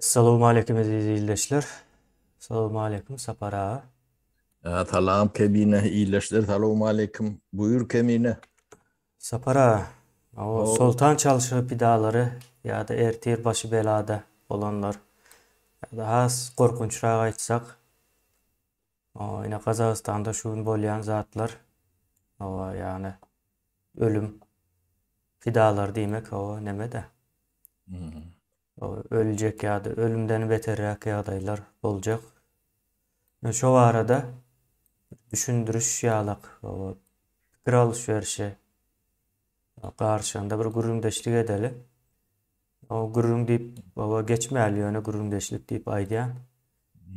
Salowmaleýkim eziz ildeşler. Salowmaleýkim Sapar aga. Salam Kemine ildeşler salowmaleýkim. Buýur Kemine. Sapar aga. O Soltan çalşygy pidalary ýa-da ertir başy belada bolanlar. Ýa-da has gorkunçrak aýtsak Oba ine gazagystanda şu gün bolýan zatlar oba ýany ölüm pidalary diýmek oba nemede öljek ýa-da ölümden beterräk ýagdaýlar boljak men şo barada düşündiriş ýalak oba pikir alyş berişe garşanda bir gürrüňdeşlik edeli. O gürrüň diýip oba geçmäli, ýöne gürrüňdeşlik diýip aýdýan.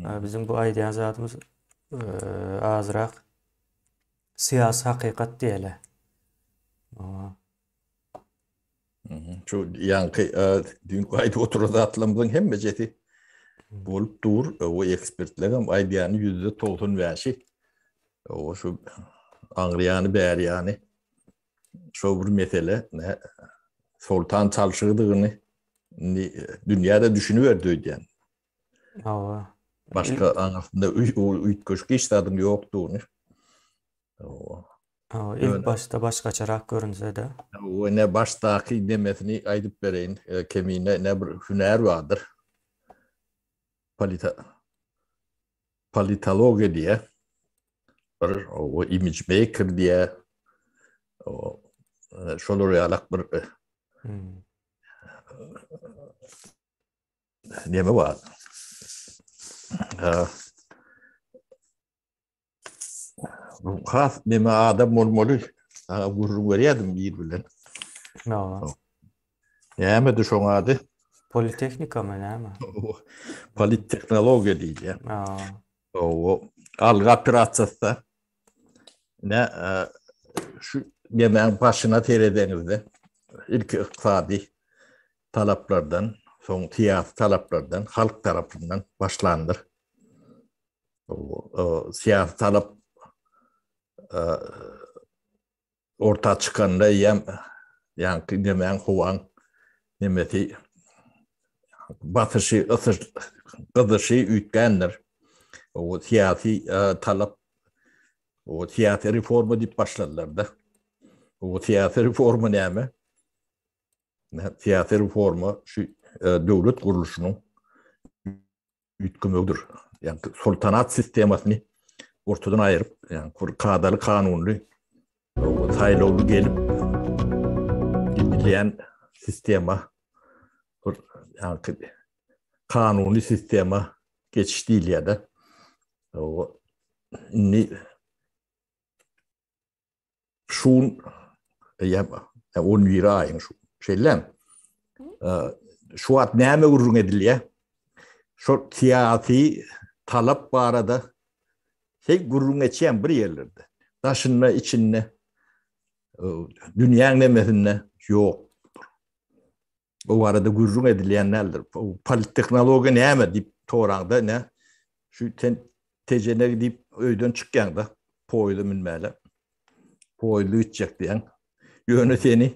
Ä, Biziň bu aýdýan zadymyz eee, azrak syýasy hakykat diýeli. O, Mhm. Şu ýaňky e, düýnki aýdyp oturan zatlarymyzyň hemmejesi bolup dur. E, O ekspertler hem aýdýany ýüzde togsan bäşi. O şu aňryýany, bäriýany şol bir mesele soltan çalşygydygyny indi dünýäde düşüniberdi öýdýän. Hawa. Başga aňasynda üýtgeşik hiç zadyň ýokdugyny. Hawa. Hawa, ilk başda başgaçarak görünse-de. Hawa, ne başdaky demesini aýdyp bereýin, kemine ne bir hünär bardyr. Polita politologiýa diýýär, bir o image maker diýýär, o e, şolar ýalak bir e, hmm. neme bar. Bu has neme adam bolmaly. Gurrun berýärdim bir bilen. No. Nämedi şoň ady? Politehnikamy näme? Polittehnologiýa diýilýär. Hawa. Algy operasiýasy-da ine şu yemegiň başyna seredeňizde ilki ykdysady talaplardan, soň syýasy talaplardan, halk tarapyndan başlandyr. Syýasy talap Orta çykanda eýýäm ýaňky indemäň howaň nemesi basyşy gyzyşy üýtgändir. O syýasy talap o syýasy reforma diýip başladylar-da. O syýasy reforma näme? Syýasy reforma şu döwlet gurluşynyň üýtgemegidir. Ýagny soltanat sistemasyny ortadan aýryp, ýagny bir kadaly kanunly saýlawly gelip gidilýän sistema bir ýagny kanunly sistema geçiş diýilýär-de. Indi Şun eýýäm on biri aýyň şu. Şeýlem. Şu wagt näme gürrüň edilýär? Şu syýasy talap barada heý gürrüň etýän bir ýerlerde. Daşynda, içinde dünýäň nemesinde ýok. Bu barada gürrüň edilýän däldir. Polittehnologiýa näme diýip soraňda ine şu sen tejenegi diýip öýden çykýaňda poýda münmäle. Poýda gitjek diýen. Ýöne seni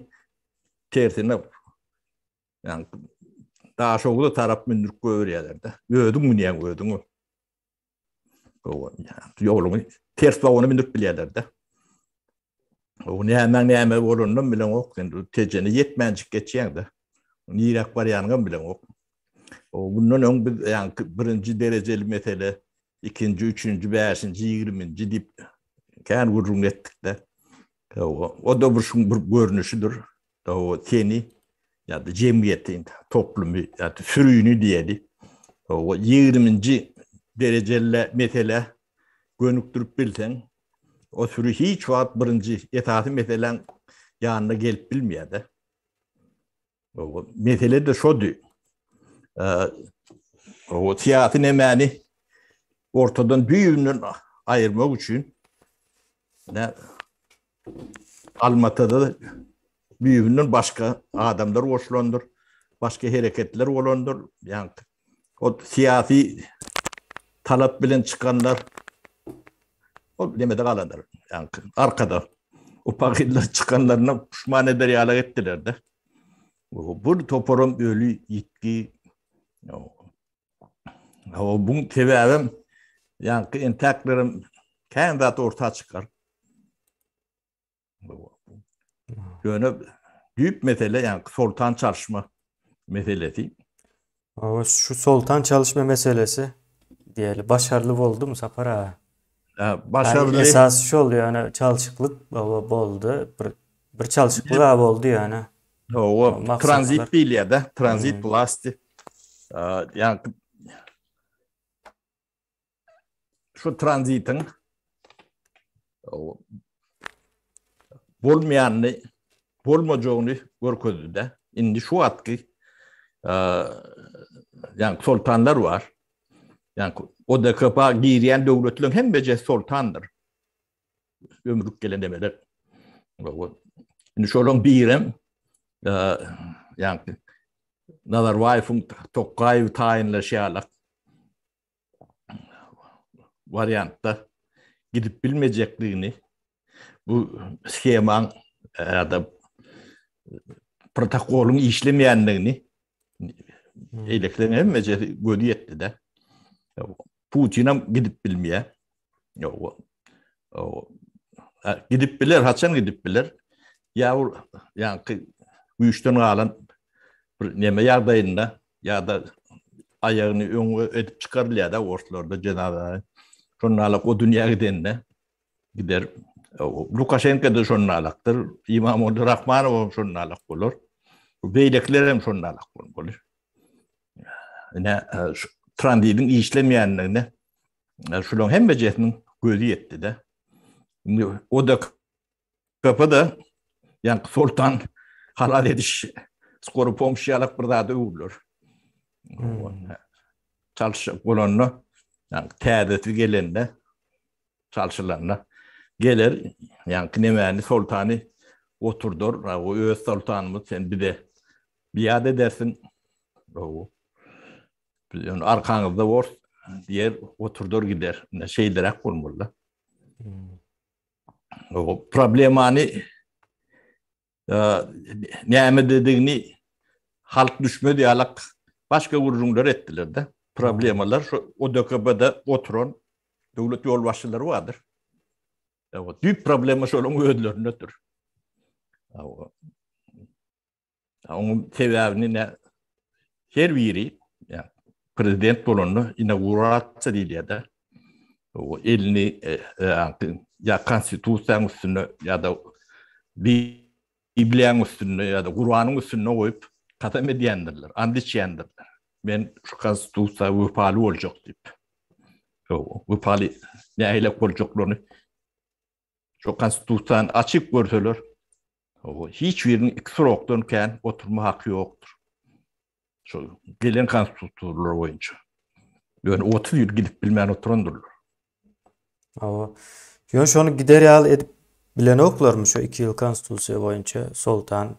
tersine ýa-ni Daşoguzda tarap mündürip goýberýärler-de. Özüň münýäň özüň. Ýoluň ters bagyna münüp bilýärler-de. O nämäň näme bolanynam bileňok. Indi tejene ýetmänjik geçýäň-de. Niräk barýanyňam bileňok. O mundan öň biz ýaňky birinji derejeli mesele, ikinji, üçünji, bäşinji, ýigriminji diýip kän gürrüň etdik-de. O-da bir şuň bir görnüşidir. Hawa, seni ýa-da jemgyýeti, toplumy ýa-da sürini diýeli, hawa, ýigriminji derejeli meselä gönükdirip bilseň, o süri hiç wagt birinji esasy meseläň ýanyna gelip bilmeýär-de. Hawa, mesele-de şody. Hawa, syýasy nemäni ortadan düýbünden aýyrmak üçin Almatada düýbünden başga adamlar goşulandyr, başga hereketler bolandyr. Ýagny ol syýasy talap bilen çykanlar ol nemede galandyr. Ýagny arkada upagynlar çykanlaryna puşman eder ýaly etdiler-de. Bu toparam öli, ýitgi, O bu sebäbim ýaňky entäklerim kän zat orta çykar. Ýöne düýp mesele ýaňky soltan çalyşma meselesi. Owa şu soltan çalyşma meselesi diýeli başarly boldumy Sapar aga? Hä, başarly. Esas şol ýöne çalşyklyk boldy. Bir bir çalşyklyk boldy ýöne. Hawa, tranzit diýilýär-de, tranzit wlasti. Ýa-da şu tranzitiň bolmaýanyny, bolmajagyny görkezdi-de. Indi şu wagtky ýa-da soltanlar bar. Ýa-da ODKB-a girýän döwletleriň hemmesi soltandyr. Ömrük gelen demeler. Indi şolaryň birem ýagny Nazarbaýewiň Tokaýewi taýynlaşýarlar. Wariantda gidip bilmejekdigini bu schemaň ýa-da protokolyň işlemeýändigini eýlekden hemmejesi gözi ýetdi-de. Putinem gidip bilmeýär. Ýok. O gidip biler, haçan gidip biler? Ýa ol ýaňky güýçden galan bir neme ýagdaýynda ýa-da aýagyny öňe edip çykarylýar-da orslarda jenazä. Şonda alak o dünýä gidende gider. Lukaşenko da şonda alakdyr. Imam Odur Rahmanow hem şonda alak bolar. Beýlekiler hem şonda alak bolar. ine tranzitiň işlemeýändigine şularyň hemmejesiniň gözi ýetdi-de. Indi o da kapyda ýa soltan halal ediş skory pomşy ýalak bir zada öwrüler. Hmm. Çalşyk bolanda, ýa täzesi gelende, çalşylanda geler, ýa kinemäni soltany oturdar, o öz soltanymyz sen bize Biade edersiň gowy. Biz ony arkaňyzda bor diýer, oturdar gider. Ine şeýleräk bolmaly-da. O problemany e, näme dedigini halk düşmedi ýalak başga gürrüňler etdiler-de. Problemalar şu ODKB-de oturan döwlet ýolbaşçylary bardyr. Düýp problema şolaryň özlerindedir. Onuň sebäbini ne her biri ýa prezident bolanda inaugurasiýa diýilýär-de. O elini e, e, ýa konstitusiýanyň üstünde ýa-da Bibliýanyň üstünde ýa-da Kuranyň üstünde goýup kasam edýändirler, and içýändirler. Men şu konstitusiýa wepaly boljak diýip. Wepaly nähili boljaklaryny Şu konstitusiýany açyp görseler, hiç biriniň iki srokdan kän oturma haky ýokdur. Şu gelen konstitusiýalar boýunça. Ýöne otuz ýyl gidip bilmän oturandyrlar. Hawa. Ýöne şony gider ýaly edip bilenoklarmy şu iki ýyl konstitusiýa boýunça soltan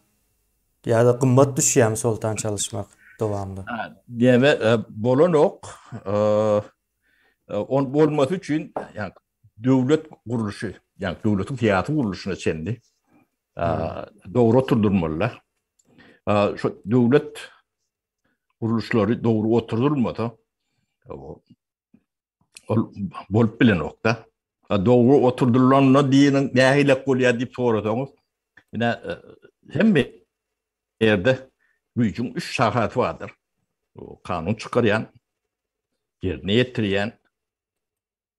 ýa-da gymmat düşýärmi soltan çalyşmak dowamly? Näme bolanok. Ol bolmasy üçin, ýa döwlet gurluşy, ýagny döwletiň syýasy gurluşyna çenli dogry oturdylmalylar. Şu döwlet gurluşlary dogry oturdylmasa, ol bolup bilenokda. Dogry oturdylanda diýeniň nähilek bolýar diýip sorasaňyz, ine hemme ýerde güýjüň üç şahasy bardyr. Kanun çykarýan, ýerine ýetirýän,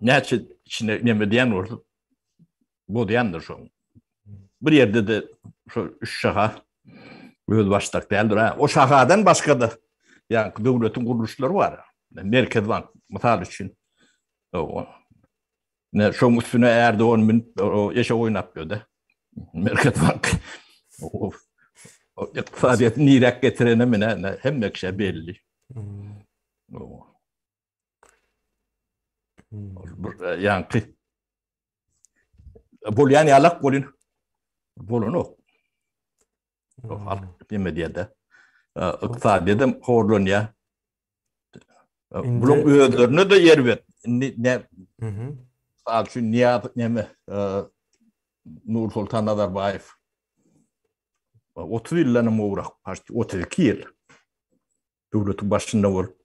näçe içine neme diýen bolsa bozýandyr şo. Bir ýerde de şu üç şaha öz başdak däldir. Ha, o şahadan başga da ýa döwletiň gurluşlary bar. Merkez bank mysal üçin. O. Ne şoň üstüne ärde on min o eşe oýnap ýördi. Merkez bank. O, o ykdysadyýeti nirek getirene menen hemme kişä belli. Hmm. O. Ýaňky bolýan ýalak bolýan. Bolanok. Halk neme diýende. Ykdysadyýet hem horlanýar. Buluň özlerine de ýer ber. Indi ne? Mhm. Al şu Niýaz neme? Nur Sultan Nazarbaýew. 30 ýyldan hem owrak, 32 ýyl. Döwleti başynda bolup,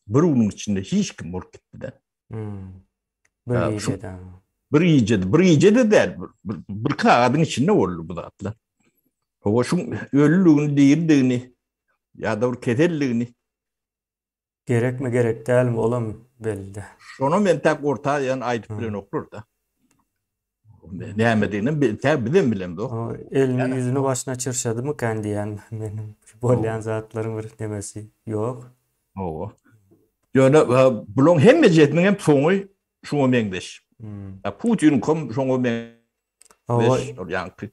bir günüň içinde hiç kim bolup gitmeden. Hmm. Bir gecede. Bir gecede, bir gecede däl, bir, bir kagadyň içinde boldy bu zatlar. Owa şu ölüligini, diridigini ya da bir keselligini gerek mi gerek däl mi olam belli. Şonu men tak orta ýan aýdyp bilen oklar da. Nämedigini bi tä bizem bilemzok. O elini ýüzüni başyna çyrşadymykan diýýän meniň bolýan zatlaryň bir nemesi ýok. Hawa. Ýöne bulaň hemmejesiniň hem soňy şuňa meňzeş. A Putiniň kom şoňa me Hawa. Ýaňky.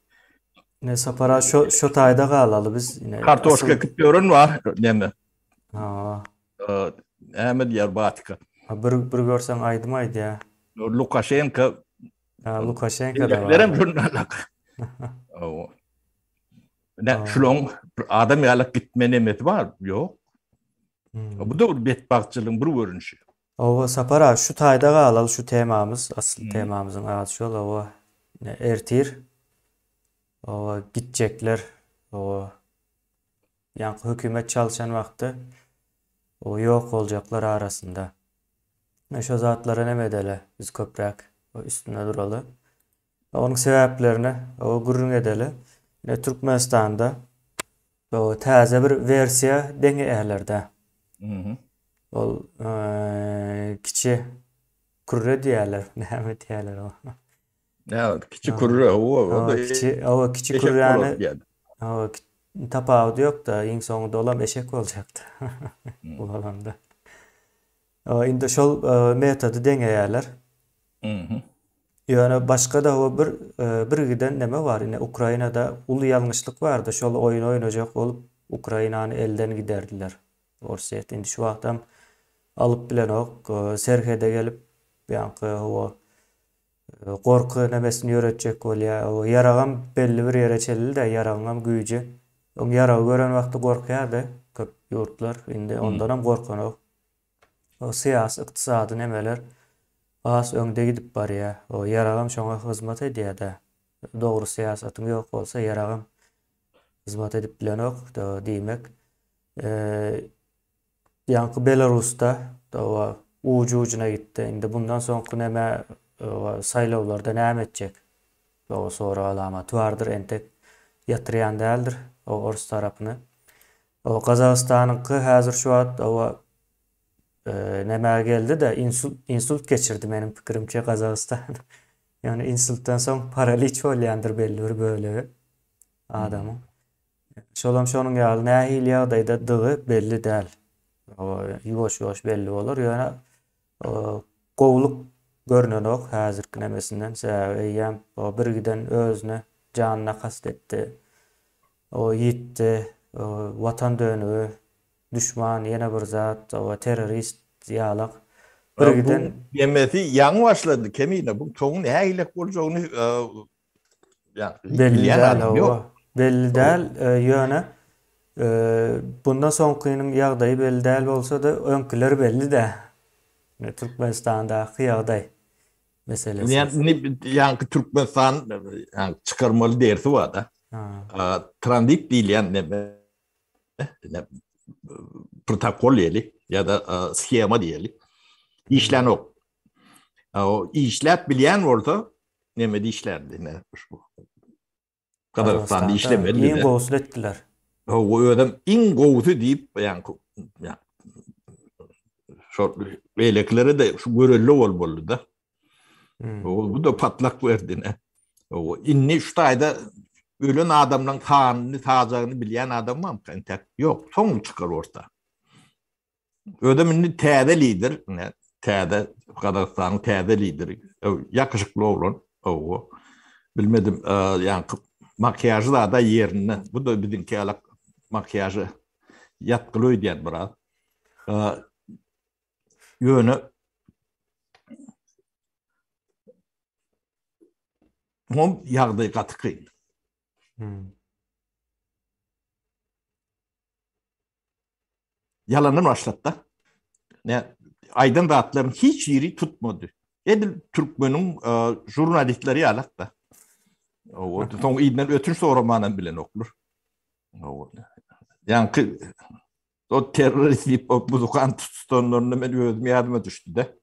Ne sapara şo şo taýda galaly biz ine. Kartoşka ekip ýören bar näme. Hawa. Näme diýýär Batyka? A bir bir görseň aýdym aýdýa. Lukaşenka. A Lukaşenka da. Beýlekilerem jurnalak. Hawa. Nä şulaň bir adam ýalak gitme nemesi bar? Ýok. Bu da bir betbagtçylygyň bir görnüşi. Hawa Sapar aga şu taýda galaly şu temamyz asly temamyzyň ady şol hawa. Ertir hawa gitjekler hawa. Ýaňky hökümet çalyşan wagtda o ýok boljaklar arasynda. Men şo zatlara neme edeli, biz köpräk üstünde duraly. Onuň sebäplerine o gürrüň edeli. Ine Türkmenistanda o täze bir wersiýa deňi ählerda. Ol kiçi kürre diýerler, näme diýerler o. Ýa, kiçi kürre, owa, onda kiçi, owa, kiçi kürräni, owa, tapawudy ýok-da, iň soňy dolam eşek boljakdy, bolamda. Owa, indi şol metody deňeýärler. Mhm. Ýöne başga-da owa bir, bir giden näme bar, ine, Ukrainada uly ýalňyşlyk bardy, şol oýny oýnajak bolup, Ukrainany elden giderdiler. Orsýet indi şu wagtam alyp bilenok, serhede gelip, ýaňky, owa, Gorky nämesini ýöretjek bolýa. O ýaragam belli bir ýere çenli-de, ýaragyňam güýji. Öň ýaragy gören wagty gorkýardy köp ýurtlar, indi ondanam gorkanok. O syýasy, ykdysady nemeler has öňde gidip barýa. O ýaragam şoňa hyzmat edýä-dä. Dogry syýasatyň ýok bolsa, ýaragam hyzmat edip bilenok, diýmek, Ýaňky Belarusda oba uj-ujuna gitdi. Indi bundan soňky näme oba saýlawlarda näme etjek? Oba sorag alamaty bardyr entek ýatyrýan däldir oba orus tarapyny. Oba Gazagystanyňky häzir şu wagt oba näme geldi-de insult geçirdi meniň pikirimçe Gazagystan. Ýöne insultdan soň paraliç bolýandyr belli bir bölegi adamyň. Şolam şonuň ýaly nähili ýagdaýda dygy belli däl. Ýuwaş-ýuwaş belli bolar, ýöne gowulyk görnenok häzirki nemesinden, sebäbi eýýäm o birgiden özüne janyna kast etdi. O ýitdi, watan dönügi, duşman, ýene bir zat, terrorist ýalak. Birgiden. Buň nemesi ýaňy başlady, Kemine, buň soňy nähilek boljagyny Belli däl hawa. Belli däl, ýöne bundan soňkynyň ýagdaýy belli däl bolsa-da, öňküler belli-dä. Ne Türkmenistandaky ýagdaý meselesi. Ýani ýaňky Türkmenistan çykarmaly dersi bar-da. Tranzit diýilýän näme? Protokol diýeli ýa-da sihema diýeli. Işlänok. O işläp bilýän bolsa, Neme dişlerdi ne şu Kazakistan dişlemedi bize. Iň gowusyny etdiler. O özüm iň gowusy diýip, ýani şol beýlekilere de şu görelde ol boldy-da. Hmm. O bu da patlak berdi ne. O indi şu taýda ölen adamlaryň sanyny, sajagyny bilýän adam barmy? Entek ýok, soň çykar orta. Özüm indi täze lider, ne, täze Gazagystanyň täze lideri. Öw, ýakyşykly oglan, owo. Bilmedim, e, ýaňky makiýažy zada ýerinde. Bu da biziňki ýalak makiýažy ýatgyly öýdýän biraz. E, ýöne Mom ýagdaý gaty kyn. Hmm. Ýalandan başlapda. Ne aýdan zatlaryň hiç biri tutmady. Edil türkmeniň e, jurnalistleri ýalakda. Owod, soň iýden ötünç soramanam bilen oklar. Owod. Ýaňky o terrorist diýip o buzukan tutanlarynda men özüm ýadyma düşdi-de.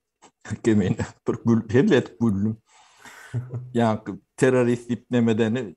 Kemen bir gül, helle etip güldüm. Ýaňky terrorist diýip nemedeni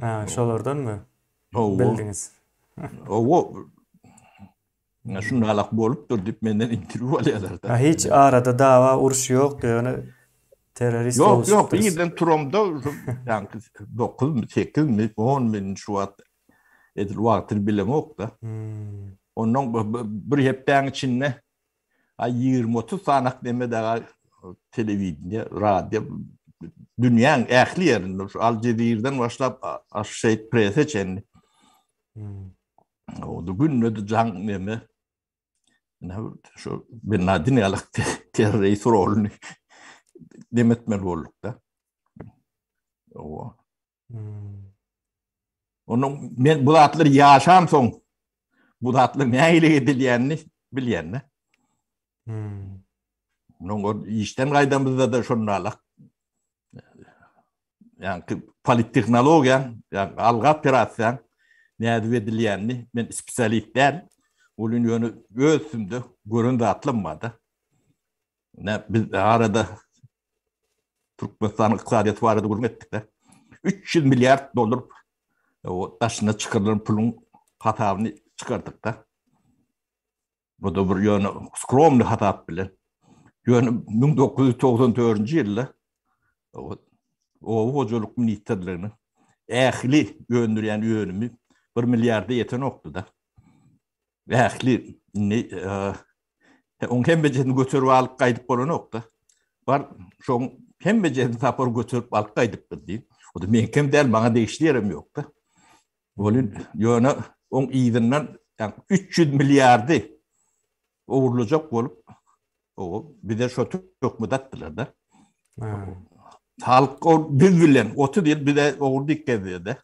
Ha, şolardanmy? Hawa. Bildiňiz. Hawa. Ýa şunda alak bolupdyr diýip menden interwýu alýarlar da. Ha, hiç arada dawa, uruş ýokdy, ýöne terrorist bolupdyr. Ýok, ýok, irden turamda, ýaňky 9-my, 8-mi, 10-my şu wagt edil wagtyny bilemok-da. Ondan bir hepdäň içinde A ýigrimi-otuz sanak neme daga telewideniýe, radio dünýäň ähli ýerinde şu Al Jazeera-dan başlap Associated Press-e çenli. O da günde de jaň neme. Ne şu Bin Laden ýaly terrorist roluny demetmeli bolduk da. O Onuň men bu zatlar ýaşan soň bu zatlar nähili edilýänini bilýän-de. Hmm. Onuň o işden gaýdamyzda da şondalar. Ýani polittehnologiýa, ýani alga operasiýa nädip edilýänini men spesialist däl. Olun ýöne öz üstünde gören zatlarym bar-da. Ine, biz arada Türkmenistanyň ykdysadyýeti barada gürrüň etdik-de. 300 milliard dollar daşyna çykarylan puluň hasabyny çykardyk-da. Bu da bir ýöne skromny hasap bilen. Ýöne 1994-nji ýylda oba hojalyk ministrliginiň ähli öndürýän önümi 1 milliarda ýetenokdy-da. Ähli indi oň hemmejesini göterip alyp gaýdyp bolanok-da. Bar şoň hemmejesini tapar göterip alyp gaýdypdyr diýip. O-da meňkem däl, maňa degişli ýerem ýok-da. Welin, ýöne oň yzyndan üç ýüz milliardy ogurlajak bolup, o bize şo töhmet atdylar-da. Halk biz bilen otuz ýyl bize ogurdyk gezdi-de.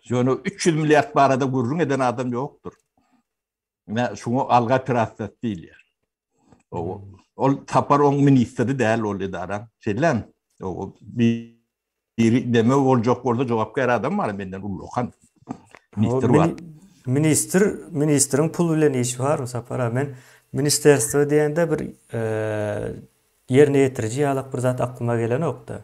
Ýöne üç ýüz milliard barada gürrüň eden adam ýokdur. Ine, şuňa alga operasiýasy diýilýär. O, ol tapar oň ministri däl ol edara. Şeýlem, o, biri deme boljak bolsa jogapkär adam bar, menden ullakan ministr bar. Ministr, ministriň pul bilen işi bar, Sapar aga. Men ministerstwo diýende bir ýerine ýetiriji ýalak bir zat aklyma gelenok-da.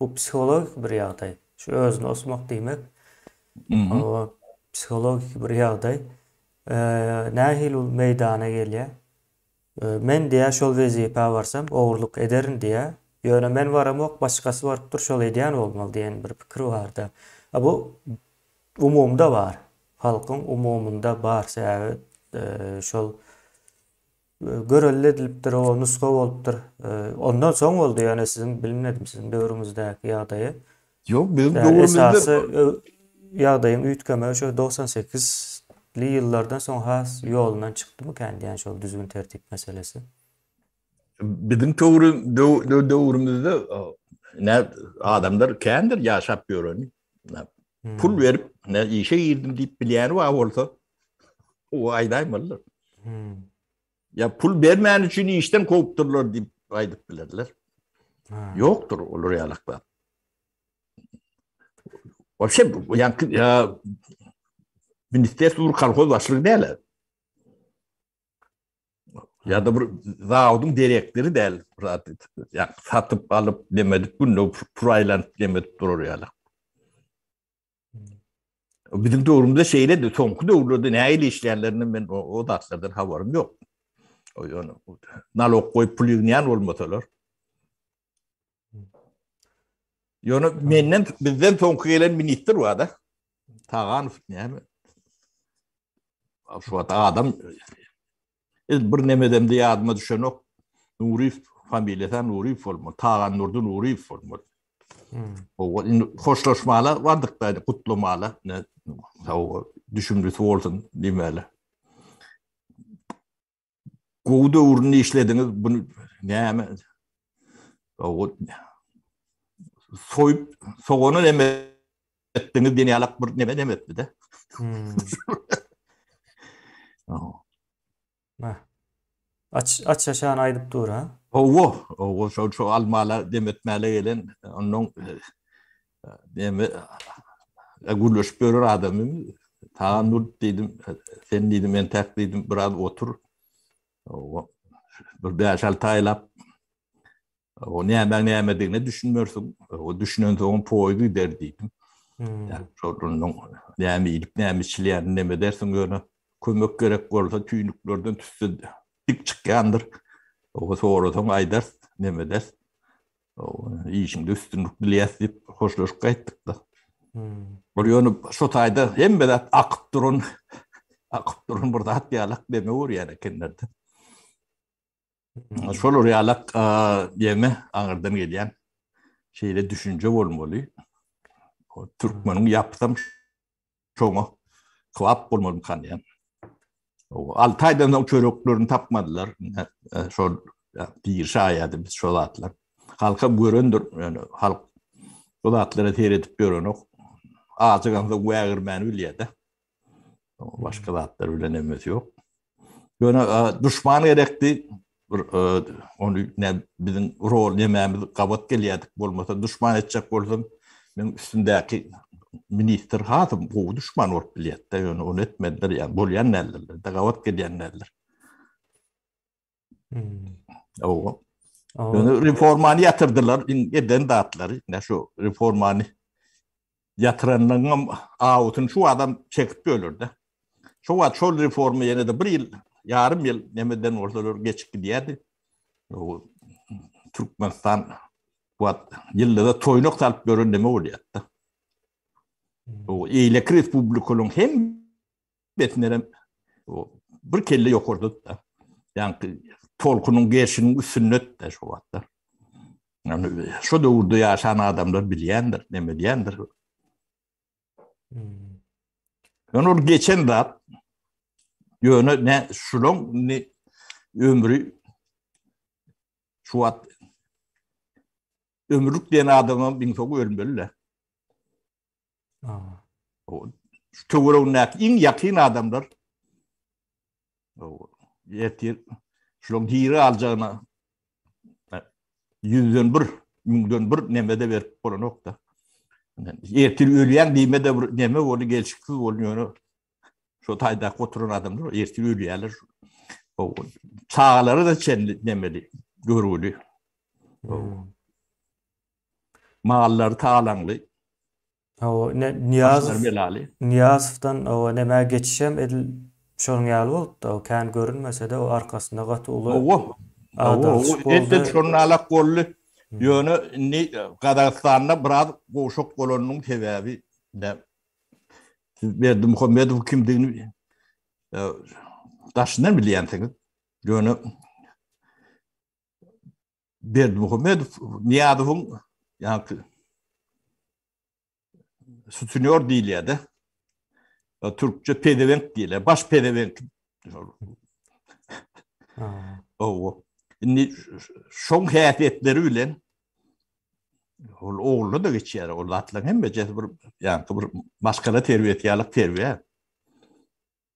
Bu psihologik bir ýagdaý. Şu özüni osmak diýmek, o psihologik bir ýagdaý. Nähili ol meýdana gelýär? Men diýýär, şol wezipä barsam, ogurlyk ederin diýýär. Ýöne men baramok, başgasy barypdyr, şol edýän bolmaly diýen bir pikir bar-da. A bu umumda bar. Halkyň umumynda bar. Sebäbi şol Görelde edilipdir, o nusga bolupdyr. Ondan soň boldy, ýagny siziň bilmedim siziň döwrüňizdäki ýagdaýy. Ýok, biziň döwrümizde esasy ýagdaýyň üýtgemegi şo togsan sekizli ýyllardan soň has ýolundan çykdymykän diýýän şol düzgün-tertip meselesi. Biziň döwrümizde adamlar kändir ýaşap ýöreni. Pul berip, ne işe girdim diýip bilýäni bar bolsa, o aýdaýmalydyr. Ya pul bermän üçin işden kowupdyrlar diýip aýdyp bilerler. Ýokdur olar ýalaklar. Waşe ýa ministrler kolhoz başlygy däl. Ya da bir zavodun direktiri däl zat. Ya satyp alyp demedik günde puraylanyp demedik durur yalar. Bizim döwrümizde şeýle de soňky döwürlerde näýli işleýänlerini men o, o zatlardan habarym ýok. Ýöne nalog goýup pul ýygnaýan bolmasalar. Ýöne menden bizden soňky gelen ministr wada. Taganow näme? Şu wada adam ez bir nemeden de ýadyma düşenok. Nurif familiýasy Nurif bolma. Tagan Nurdy Nurif bolma. Hmm. O indi hoşlaşmala bardyk da gutlamala. Ne sag düşündüsi bolsun diýmäli. Gowy döwründe işlediňiz. Bu näme? Gowy. Soýup, sogana näme etdiňiz? Diýen ýalak bir näme näme etdi-de. Hmm. Aç aç şan aýdyp dur ha. Owo, owo şol şu almala demetmäle gelen ondan Demi gürleşip ýörer adamy. Tagan dur diýdim. Sen diýdim, men täk diýdim, biraz otur. Bir 5-6 aýlap o näme nämedigine düşünmersiň. O düşünen soň poýuz gider diýdim. Hmm. Şonuň näme iýip, näme içilýän, näme dersiň ýöne kömek gerek bolsa tüýnüklerden tüsse dik çykýandyr. O sorasaň aýdar, näme der. Işiňde üstünlik dileýäs diýip hoşlaşyp gaýtdyk-da. Ol ýöne şu taýda hemme zat akyp duran, akyp duran bir zat ýalak deme görýän ekenler-de. Şolar ýalak deme aňyrdan gelýän şeýle düşünje bolmaly. Türkmeniň ýapysam Şoňa kybap bolmalymykan diýýän. Alty aýdan soň çöreklerini tapmadylar. Şol bir şaýady biz şol zatlar. Halka görendir, ýöne halk bu zatlara seredip ýörenok. Ajygamda wägirmäni bilýär-de. Başga zatlar bilen emesi ýok. Ýöne duşman gerekdi. Bir ony ne biziň rol nämämiz gabat gelýärdik. Bolmasa duşman etjek bolsam, men üstündäki ministr has gowy duşman bolup bilýärdi. Ýöne ony etmediler. Ýa bolýan nälerdir. Gabat gelýän näler. Owa. Ýöne reformany ýatyrdylar, eden zatlary, ne şu reformany ýatyranyňam awutyny şu adam çekip bölürdi. Şu wagt şol reforma ýene de bir ýyl, ýarym ýyl nemeden bolsalar geçip gidýärdi. O Türkmenistan wagt ýylda toýnuk salyp gören neme bolýardy. Bu eýleki respublikalaryň hem Betmenem o bir kelle ýokarda da. Ýaňky tolkunyň gerşiniň üstünde de şu wagtda. Yani şu döwürde yaşan adamlar bilýändir, neme diýendir. Hmm. Yani ol geçen zat ýöne ne şulaň ne ömri şu wagt ömürlik diýen adamam biň soň ölmeli. Töweregindäki iň ýakyn adamlar ertir şularyň hiri aljagyna ýüzden bir, müňden bir nemede berip bolanokda. Ertir ölýän diýme de bir neme ony gelşiksiz boldy ýöne şu taýda oturan adamlar ertir ölýärler. O çagalary da çenli nemeli görgüli. Mallary talaňly. Hawa, ine Nyýazow. Belaly. Nyýazowdan owa nämä geçişem edil şonuň ýaly bolupdy. O kän görünmese-de, o arkasynda gaty uly. Owa. Owa, edil şonuň ýalak boldy. Ýöne indi Gazagystanda biraz gowşak bolanynyň sebäbi näme? Siz Berdimuhamedowyň kimdigini daşyndan bilýänsiňiz. Ýöne Berdimuhamedow Niýazowyň ýa-da sutinýor diýilýär-de. Türkçe pezewenk diýilýär. Baş pezewenk. Owo. Indi şoň häsiýetleri bilen ol ogluna da geçýär. Ol atlaryň hemmesi bir ýa-da bir maskara terbiýesi ýaly terbiýe.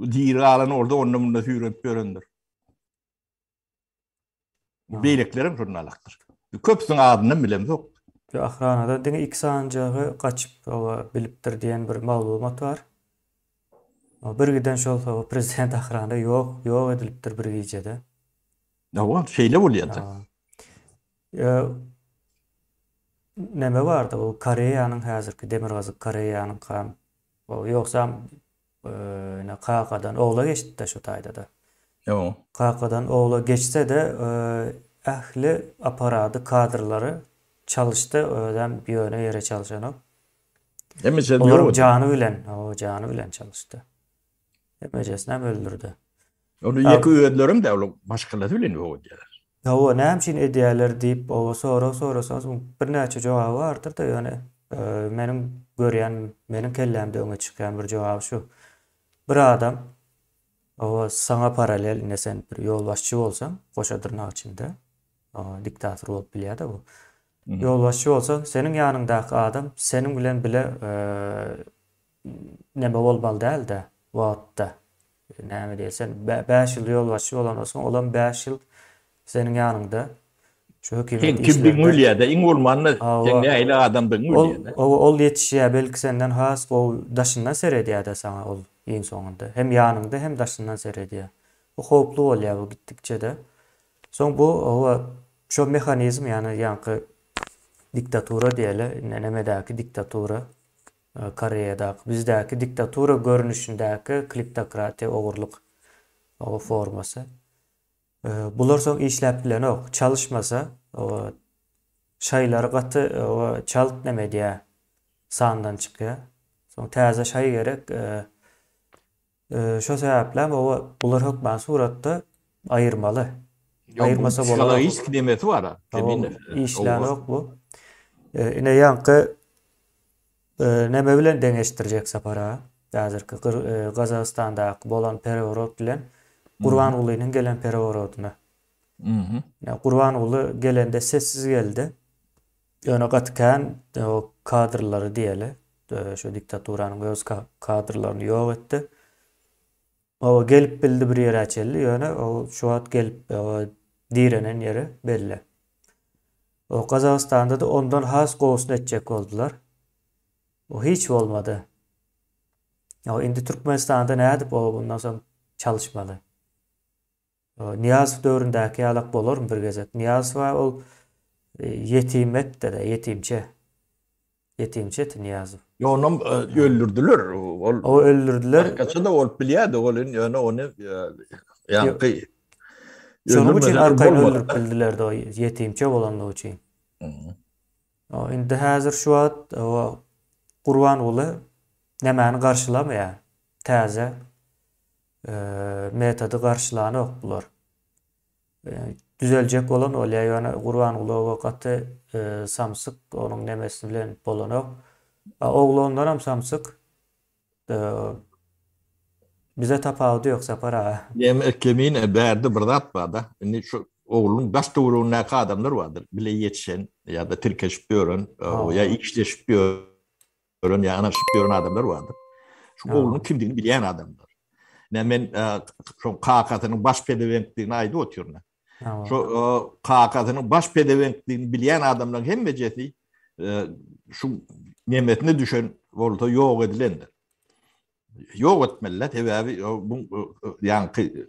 Diri galany orada onda munda süýrenip ýörendir. Beýleklerem şondan alakdyr. Köpüsiniň adyndan bilem ýok. Ahranada diňe iki sanjagy gaçyp oba bilipdir diýen bir maglumat bar. O bir giden şol soba prezident ahranada ýok, ýok edilipdir bir gijede. Hawa, şeýle bolýar-da. Neme bardy, bu Koreýanyň häzirki Demirgazyk Koreýanyň kan. Ýogsam Ine, kakadan ogla geçdi-de şu taýda-da. Ýo. Kakadan ogla geçse-de, ähli apparady, kadrlary çalyşdy, özem ýöne ýere çalşanok. Emejesi ýok. Olaryň jany bilen, hawa, jany bilen çalyşdy. Emejesinem öldürdi. Ony ýeke özlerem däl, ol maşgalasy bilen ýok edýärler. Hawa, näme üçin edýärler diýip, oba sorag sorasaňyz, muň birnäçe jogaby bardyr-da, ýöne meniň görýän, meniň kellämde öňe çykýan bir jogaby şu, bir adam, oba saňa paralel, ine sen bir ýolbaşçy bolsaň, goşa dyrnak içinde, diktator bolup bilýär-de bu, ýolbaşçy bolsaň, seniň ýanyňdaky adam seniň bilen bile Neme bolmaly dälde wagtda. Näme diýýä sen bäş ýyl ýolbaşçy bolansoň olam bäş ýyl seniň ýanyňda şu hökümet işlerinde. Seň kimdigiňi bilýärde iň bolmanda seň nähili adamdygyňy bilýärde. Hawa ol ýetişýä belki senden has gowy daşyndan seredýäde saňa ol iň soňunda hem ýanyňda hem daşyndan seredýä. Bu howply bolýa bu gitdikçede. Soň bu hawa şo mehanizm ýani ýaňky diktatura diýeli indi nemedäki diktatura Koreýadaky bizdäki diktatura görnüşindäki kliptokratiýa ogurlyk formasy. Bular soň işläp bilenok. Çalyşmasa şaýlary gaty çalt näme edýär sandan çykýar. Soň täze şaý gerek. Şo sebäplem oba bular hökman suratda aýyrmaly. Aýyrmasa bolanok. Psihologiski demesi bar-a. Işlänok bu. Ine ýaňky neme bilen deňeşdirjek Sapar-a? Häzirki Gazagystandaky bolan pereworot bilen Gurbangulynyň gelen pereworoduna. Gurbanguly gelende sessiz geldi. Ýöne gaty kän o kadrlary diýeli. Şu diktaturanyň öz kadrlaryny ýok etdi. O gelip bildi bir ýere çelli, ýöne o şu wagt gelip direnen ýeri belli. O Gazagystanda-da ondan has gowusyny etjek boldular. O hiç bolmady. O indi Türkmenistanda nädip o bundan soň çalyşmaly? Nyýazow döwründäki ýalak bolarmy bir gezek? Nyýazowa ol ýetim etdi-de, ýetimçe. Ýetimçe eti Nyýazow. Ýok, onam öldürdiler. Ol Ow, öldürdiler. Başgaça-da bolup bilýärdi. Ol indi ýöne ony ýaňky Şonuň üçin arkaýyn öldürip bildiler-de, ýetimçe bolandygy üçin. Ow, indi häzir şu wagt ow Gurbanguly nämäni garşylamaýar? Täze Metody garşylanok bular. Düzeljek bolan bolýa ýöne Gurbangulowa gaty samsyk onuň nemesi bilen bolanok. A oglandanam samsyk. Bize tapawudy ýok Sapar aga. Ýene kimin bärde bir zat barda indi şu oglunyň daş töweregindäki adamlar bardyr bile ýetişen ýada tirkeşip ýören ýa işleşip ýören. Ölen ýa ynaşyp ýören adamlar bardyr. Şu oglunyň kimdigini bilýän adamlar. Ine men şo kakasynyň baş pezewenkdigini aýdyp otyryn. Şo kakasynyň baş pezewenkdigini bilýän adamlaryň hemmejesi şu nemesine düşen bolsa ýok edilendir. Ýok etmeliler sebäbi bu ýaňky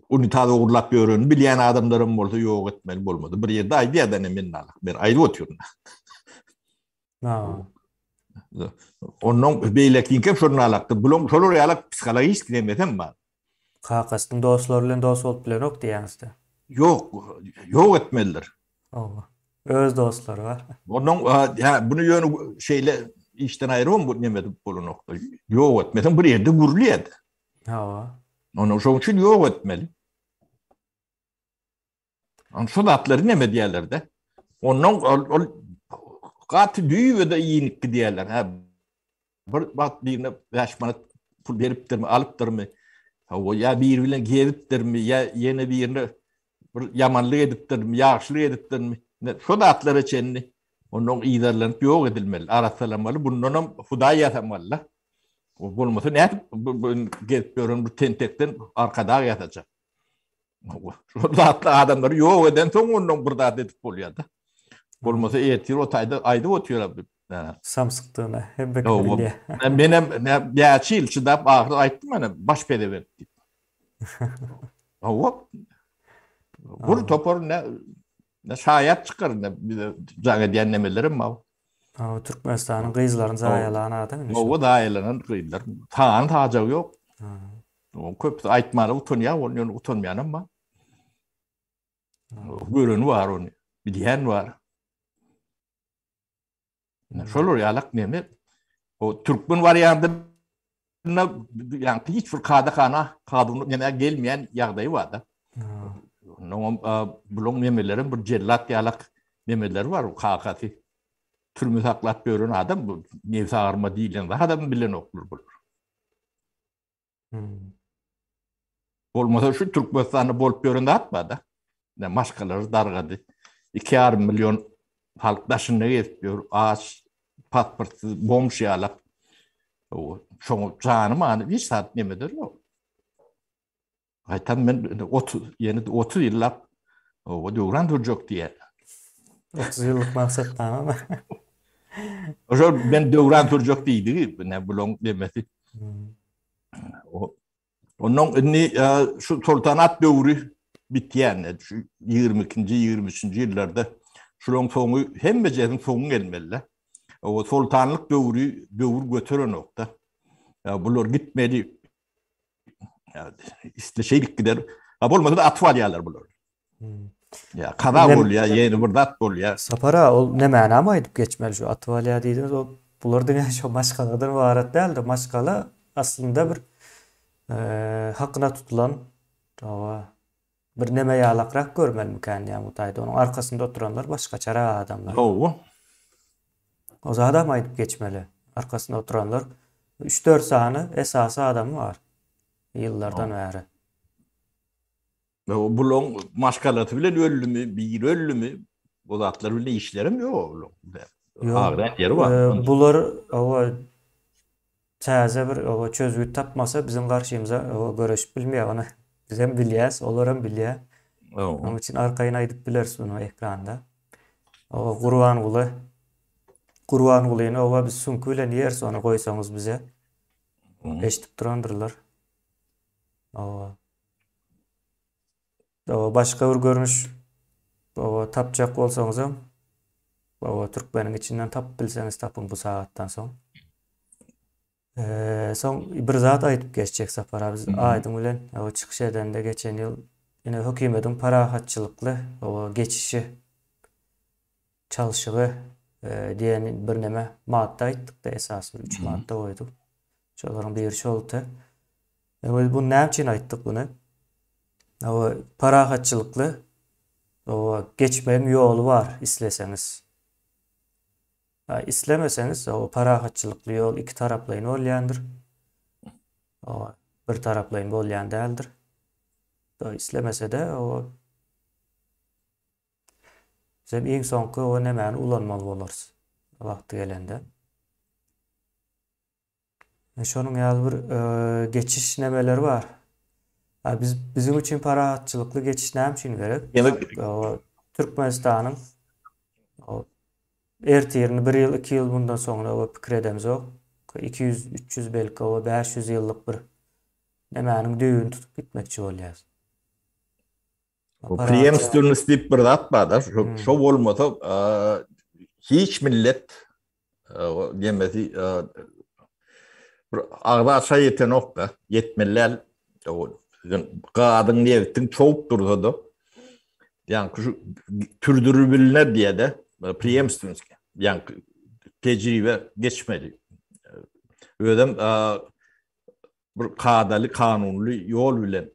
unitaz ogurlap ýören bilýän adamlaram bolsa ýok etmeli bolmady. Bir ýerde aýdýar da men nalak ber aýdyp otyryn. Ha. Ondan beýleki kim şol nalakdy. Bulaň şolar ýaly psihologik demesem bar. Kakasynyň dostlary bilen dost bolup bilenok diýýäňizde. Ýok, ýok etmelidir. Owa. Öz dostlary bar. Ondan ýa bunu ýöne şeýle işden aýrym bu neme edip bolanokdy. Ýok etmesem bir ýerde gürlýärdi. Hawa. Ony şoň üçin ýok etmeli. Ony şol atlary näme diýerlerde? Ondan ol, ol gaty düýbe de iýnik diýerler. Ha. Bir wagt birine 5 manat pul beripdirmi, alypdyrmy? Hawa, ýa biri bilen gezipdirmi, ýa ýene birine bir ýamanlyk edipdirmi, ýagşylyk edipdirmi, şo zatlara çenli onnoň yzarlanyp ýok edilmeli, arassalanmaly, bundanam Hudaý ýasamaly-da. Bolmasa nädip bu gezip ýören bu tentekden arkadag ýasajak? Şol zatda adamlary ýok edensoň onnoň bir zat edip bolýar-da. Bolmasa ertir o taýda aýdyp otyr-a bu. Samsykdygyna her bir kişi bilýär. Menem näçe ýyl çydap ahyry aýtdym ene baş pezewerk diýip. Hawa. Gür topar ne ne şaýat çykar ne bize jaň edýän nemelerem bar. Hawa Türkmenistanyň gyzlaryny zaýalan adam indi. Hawa zaýalanan gyzlar sany sajagy ýok. Köpüsi aýtmana utanýar ony ýöne utanmaýanam bar. Göreni bar ony, bilýän bar. Şolar ýalak näme? O türkmen wariandy na ýa hiç bir kada kana kadun näme gelmeýän ýagdaýy bar da. Onuň buluň nämeleri bir jellat ýalak nämeleri bar o kakasy. Türme saklap ýören adam bu nebsi agyrma diýlen zat adam bilenoklar bular. Bolmasa şu Türkmenistanda bolup ýören zat bar da. Ne maşgalary dargady. 2,5 million halk daşynda gezip ýör. Aç, pasportsyz, bomş ýalak. Şoň jany many hiç zat nemeder ýok. Gaýtam men 30 ýene 30 ýyllap o döwran durjak diýýär. 30 ýyllyk maksatdan. Oşo men döwran durjak diýdigi, ne bulaň demesi. Ondan indi şu soltanat döwri bitýände, şu 22-nji, 23-nji ýyllarda şularyň soňy hemmejesiniň soňy gelmeli. O soltanlyk döwri döwür göteren okda. Bular gitmeli. Isleşeýlik gider. Ha bolmasa da atyp alýarlar bular. Ýa kaza bolýar, ýene bir zat bolýar. Sapar aga, ol ne mänama aýdyp geçmeli şu atyp alýar diýdiňiz, ol bular diňe şo maşgaladan ybarat däldir. Maşgala aslynda bir hakyna tutulan hawa bir neme ýalakrak görmelimikäm diýýän bu taýda. Onuň arkasynda oturanlar başgaçarak adamlar. Hawa. O zadam aýdyp geçmeli. Arkasynda oturanlar üç-dört sany esasy adamy bar ýyllardan bäri. Bulaň maşgalasy bilen öldümi, biri öldümi? Bu zatlar bilen işlerim ýok oglum. Agrat ýeri bar. Bular owa täze bir owa çözgüt tapmasa biziň garşymyza owa göreşip bilmeýär. Ony bizem bilýäs, olaram bilýär. Onuň üçin arkaýyn aýdyp bileris bunu ekranda. Owa Gurbanguly Gurbangulyny owa biz süňki bilen ýeris ony goýsaňyz bize. Eşidip durandyrlar. Owa. Baba başga bir görnüş baba tapjak bolsaňyzam baba türkmeniň içinden tapyp bilseňiz tapyň bu sagatdan soň. Eee soň bir zat aýdyp geçjek Sapar abi aýdyň bilen o çykyş edende geçen ýyl ine hökümetiň parahatçylykly o geçişi çalşygy diýen birneme madda aýtdykda esas bir üç madda goýduk. Şolaryň biri şoldy. Biz bu näme üçin aýtdyk bunu? Awa parahatçylykly awa geçmegiň ýoly bar isleseňiz. Ha islemeseňiz awa parahatçylykly ýol iki taraplaýyn bolýandyr. Awa bir taraplaýyn bolýan däldir. Islemese-de awa Sen iň soňky we nämäni ulanmaly bolarys wagty gelende. E, şonuň ýaly bir e, geçiş nämeleri bar. Ha, biz biziň üçin parahatçylykly geçiş näme üçin gerek? Demek, Türkmenistanyň ertirini bir ýyl, iki ýyl bundan soňra we pikir edemzok. 200, 300 belki we 500 ýyllyk bir nämäniň düýbüni tutup gitmekçi bolýarys. Preemstwnost diýip bir zat bar-da, şo bolmasa hiç millet demesi bir agza çaý ýetenok-da, ýetmelil. Gazyň, nebtiň çowup dursa-da, ýaňky şu türdürip bilner diýe-de, preemstwnost, ýaňky tejribe geçmeli. Özem bir kadaly kanunly ýol bilen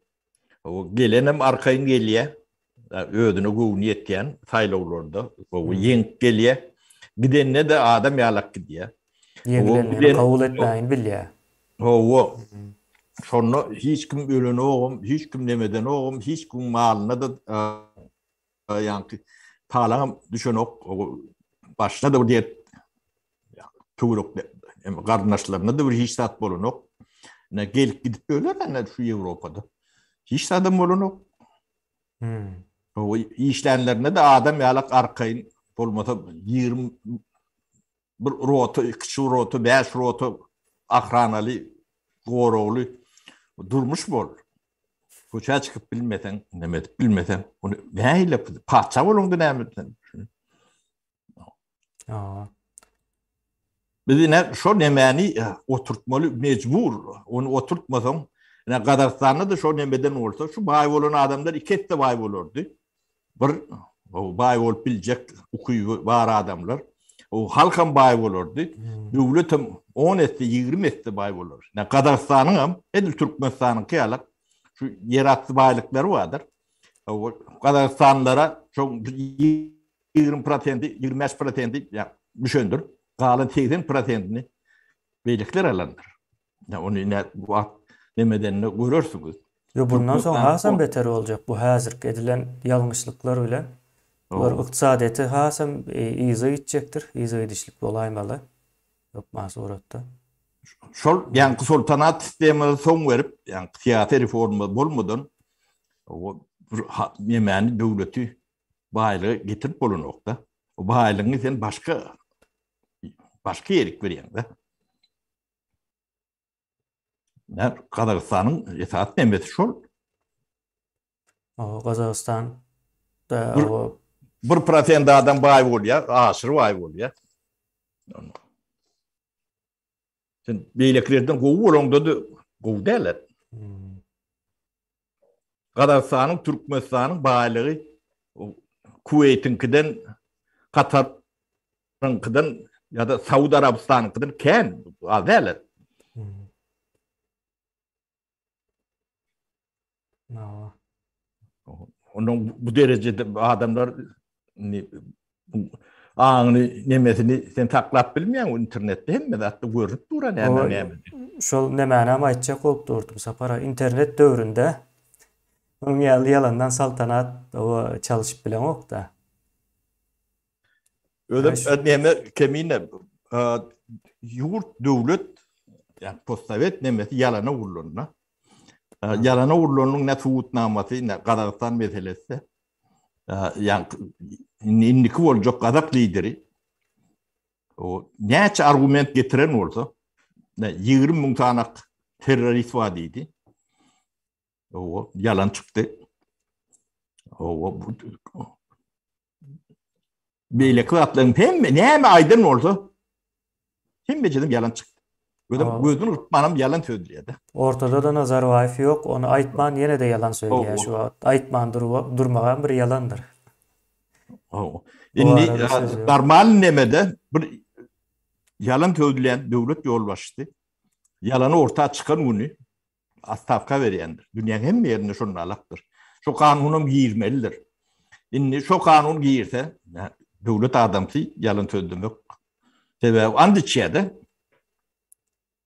gelenem arkaýyn gelýä özüne göwni ýetýän saýlawlarda gowy ýeňip gelýä gidende de adam ýalak gidýä ýeňileni kabul etmäýin bilýä howa şonda hiç kim ölenogam hiç kim nemedenogam hiç kim malyna da Ýaňky talaňam düşenok. Başyna-da bir dert töwerek hem garyndaşlarynda-da bir hiç zat bolanok. Ine gelip gidip öler ene şu Ýewropada. Hiç zadam bolanok. Hmm. O işlänlerinde de adam ýalak arkaýyn bolmasa 20 Bir rota, iki çuw rota, bäş rota ahranaly, goragly durmuş bol. Köçä çykyp bilmeseň, näme edip bilmeseň, ony nähili paça boluňda näme etsen. Aa. Biz ine şo nemäni e, oturtmaly mecbur. Ony oturtmasaň, ine Gazagystanda da şo nemeden bolsa, şu baý bolan adamlar iki ette baý bolardy. Bir baý bolup biljek ukyby bar adamlar. O halkam baý bolardy. Hmm. Döwletem 10 esse, 20 esse baý bolar. Ýa Gazagystanyň hem, edil Türkmenistanyň ýaly şu ýerasty baýlyklary bardyr. O Gazagystanlara şu 20%, 25% ýa düşendir. Galan 80%-ni beýlekiler alandyr. Ýa ony ine wagt nemedende görersiňiz. Ýok, bundan soň hasam beter boljak bu häzirki edilen ýalňyşlyklar bilen. Bular ykdysadyýete hasam yza gitjekdir, yza gidişlik bolaýmaly hökman suratda. Şol ýaňky soltanat sistemada soň berip, ýaňky syýasy reforma bolmadan nemäni döwleti baýlyga getirip bolanokda. O baýlygyňy sen başga başga ýerik berýäňde. Gazagystanyň esasy temesi şol. Gazagystan bir prosent adam baý bolýar, aşyr baý bolýar. Sen beýlekilerden gowy bolaňda-da gowy däldir. Gazagystanyň, Türkmenistanyň baýlygy Kuweýtiňkiden, Kataryňkydan ýa-da Saud Arabystanyňkydan kän, az däl. Ondan bu derejede adamlar Indi bu aňyny nemesini sen saklap bilmeýäň internetde hemme zatda görünip dur näme näme. Şol nemänem aýtjak bolup durdum Sapar internet döwründe munuň ýaly ýalandan saltanat oba çalyşyp bileňokda. Özem neme kemine ýurt döwlet ýa postsowet nemesi ýalana gurlandy. Ýalana gurlanyň ne subutnamasy ne Gazagystan meselesi. yani indiki boljak gazak lideri o näçe argument getiren bolsa 20 müň tanak terrorist var dedi. O yalan çıktı. O bu Beýleki zatlaryň hemme näme aýdan bolsa hemme jynym ýalan çykdy. Özüm oh. gözüm ýykyp ýalan söz diýýärdi. Ortada da Nazarbaýew ýok, ony aýtman ýene de ýalan söýýär oh, şu wagt. Aýtman durmagam bir ýalandyr. Oh. Indi normal nemede bir ýalan söýlen döwlet ýolbaşçysy ýalany orta çykan güni Otstawka berýändir. Dünýäň hemme ýerinde şonda alakdyr. Şo kanunam girmelidir. Indi şo kanun girse, döwlet adamsy ýalan sözlemek. Sebäbi and içýär-de.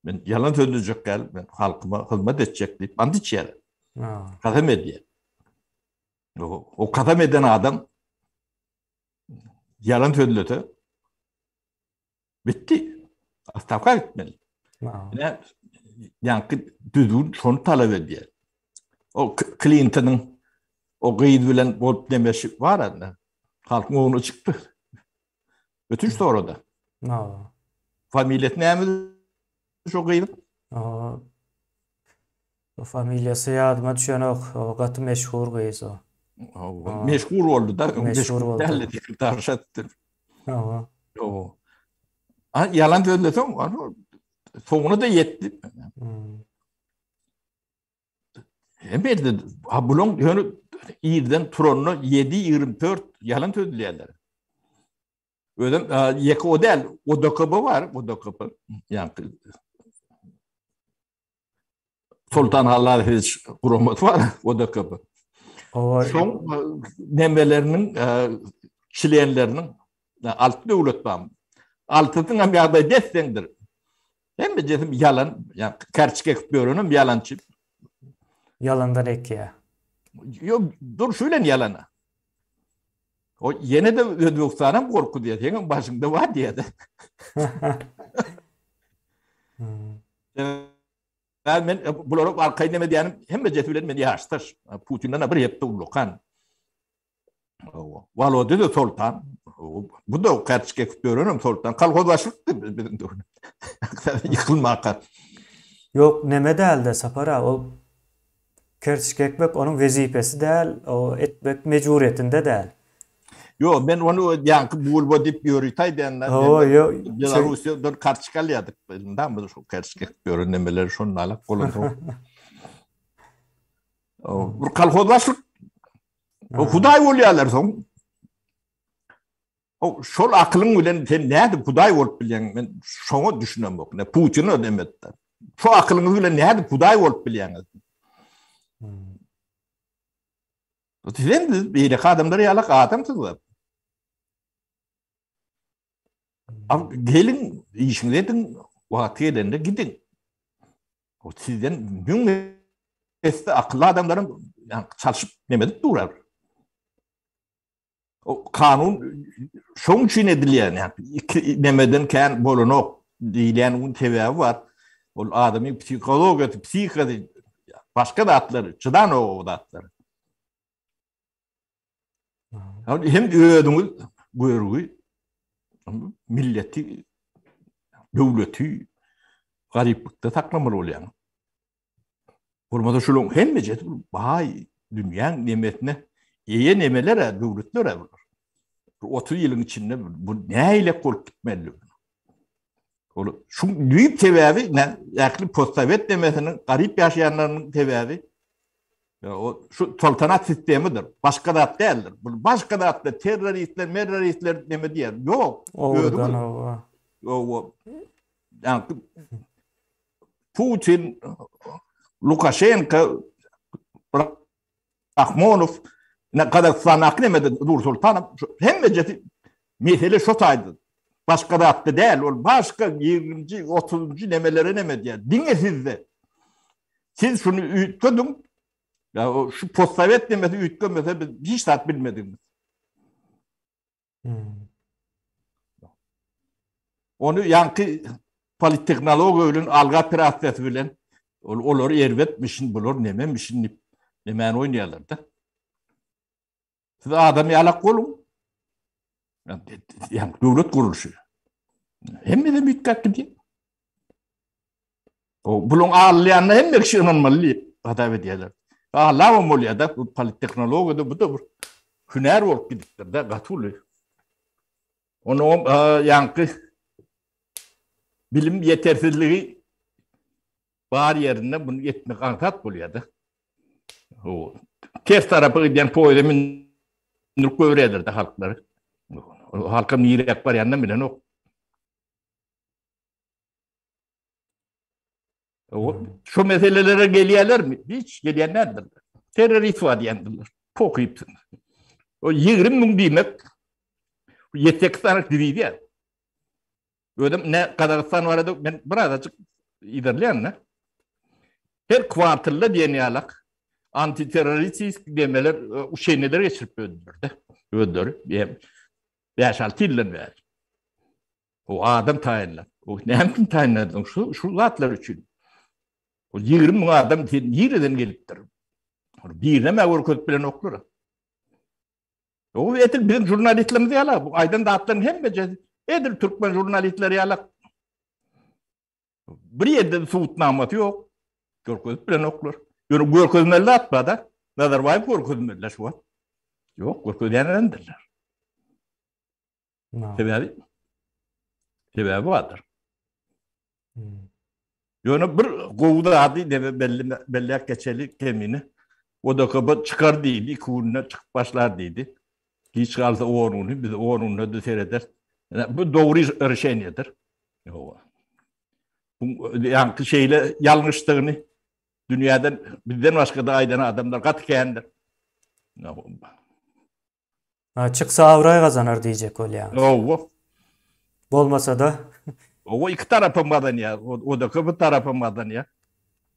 Men ýalan sözlejek däl, men halkyma hyzmat etjek diýip and içýär. Kasam edýär. O kasam eden adam ýalan sözlese, Bitti. Astavka gitmeli. Ine, ýaňky düzgün şony talap edýär. O Klintonyň o gyz bilen bolup demeşi bar anda. Halkyň oňuna çykdy. Ötünç sorady. Familiýasy näme? Şu gyzyk. O familiýasy ýadyma düşenok. O gaty meşhur gyz o. Meşhur boldy da. Meşhur boldy. Däli diýip daş atdy. Hawa. Hawa. A ýalan sözleseň, soňuna da ýetdi. Hemedi, ha buluň ýöne irden turanyna 7:24 ýalan sözleýärler. Özüm ýeke o däl, o DKB bar, o DKB. Ýaňky Sultan Halazowiç guramat bar, o DKB. Owa, soň nemeleriniň çlenleriniň altı döwlet bar. Altysynyň hem ýagdaýy desseňdir. Hem de jesim ýalan, ýaňky karçyk ekip ýörenem ýalançy. Ýalandan ekýä. Ýok, durşy bilen ýalana. O ýene-de Özbegistanam gorky diýýär, seňem başyňda bar diýýär-de. Sebäbi men bulara arkaýyn näme diýýänim, hemmejesi bilen men ýaşdaş. Putinden-ä bir hepde ullakan. Walodýa-da soltan. Bu-da kartoçka ekip ýörenem soltan. Kolhoz başlykdy biziň döwrüm. Ýykylmaka. Ýok, näme däl-de, Sapar aga, ol Kerçki ekmek onuň wezipesi däl, o ekmek mejburýetinde däl. Ýok, men ony ýaňky bulba diýip ýörütaý dända. Belarusýadan karçka alýardyk, ynha biz şu kerçki ekip ýören nemeleri şondan alyp golansoň. Bir kolhoz başlyk. Hudaý bolýarlar soň. O şol akylyň bilen sen nädip hudaý bolup bilýäň? Men şoňa düşünemok. Ne Putin ödemetdi. Şu akylyňyz bilen nädip hudaý bolup bilýäňiz? Hmm. Sen biz beýle adamlar ýalak adamsyz we Am hmm. gelin işiňizi ediň, wagt gelende gidiň. O sizden müň esse akylly adamlaryň ýa çalşyp nemedip durar. O kanun şoň üçin edilýän, ýa-ni iki nemeden kän bolanok diýilýän gün sebäbi bar. Ol adamyň psihologiýasy, psihikasy, başga zatlar, çydan o zatlar. Hem özüňiz görgi, milleti, döwleti garyplykda saklamaly bolýaň. Bolmasa şularyň hemmesi edip baý dünýäň nemesine eýe nemeler-ä, döwletler-ä bular. Bir 30 ýylyň içinde bu nähilek bolup gitmeli? Ol şu düýp sebäbi ähli postsowet nemesiniň garyp ýaşaýanlarynyň sebäbi o şu toltanat sistemidir. Başga zat däldir. Bu başga zatlar terroristler, merroristler neme diýer? Ýok. Özüňiz. Owa. Ýa Putin, Lukaşenka, Rahmonow, ne Gazagystan aknemede Nur Sultanow, hemmejesi mesele şu taydı. Başka zatda değil, ol başka 20-ci, 30-ci nemelere neme diýär. Diňe sizde. Siz şunu üýtgediň, ya şu postsovet nemesi üýtgemese biz hiç zat bilmediniz. Ony ýaňky polittehnologiýa bilen alga operasiýasy bilen ol olar erbetmişin, bular nememişin diýip, nemäni oýnaýarlar-da. Siz adam ýalak boluň. Ýa döwlet gurluşy. Hemme de mitgak diýip. O buluň alýanyna hemme kişi ynanmaly diýip hasap edýärler. Alabam bolýar-da, bu polittehnologiýada bu-da bir hünär bolup gidipdir-de, gaty uly. Onuň hem ýaňky bilim ýetersizligi bar ýerinde bunu etmek aňsat bolýar-da. O ters tarapa gidýän poýda mündirip göwräder-de halklary. Halkam nirek barýanyny bilenok. Şu meselelere gelýärler mi? Hiç gelýän nädip? Terrorist var diýendiler. Pokypsyn. O 20 müň diýmek 7-8 tane diviziýa. Özüm ne Gazagystan barada men bir azajyk iderleýän ne? Her kwartalda diýen ýalak antiterroristik demeler e, şeýneler geçirip öldürdi. Öldürip, 5-6 ýyldan bäri. O adam taýynlap. O näme üçin taýynladyň? Şu şu zatlar üçin. O 20 müň adam sen nireden gelipdir? Birine görkezip bilen oklar. O etil biziň jurnalistlerimiz ýala, bu aýdan zatlaryň hemmesi edil türkmen jurnalistleri ýala. Bir ýerde subutnamasy ýok. Görkezip bilen oklar. Ýöne görkezmeli zat bar-da. Nazarbaýew görkezmeli şu wagt. Ýok, görkezýänlerdir. Sebäbi sebäbi bardyr. Ýöne bir gowy zady debe belli belli geçeli kemini. O da köp çykar diýdi, iki günde çykyp başlar diýdi. Giç galsa onuny biz onunda da sereder. Bu dogry rüşeniýedir. Ýowa. Bu ýaňky şeýle ýalňyşdygyny dünýäden bizden başga da aýdan adamlar gaty kändir. Çyksa abraý gazanar diýjek bolýaňyz. Hawa. Bolmasa-da. Hawa, iki tarap hem gazanýar. Odaka bir tarap hem gazanýar.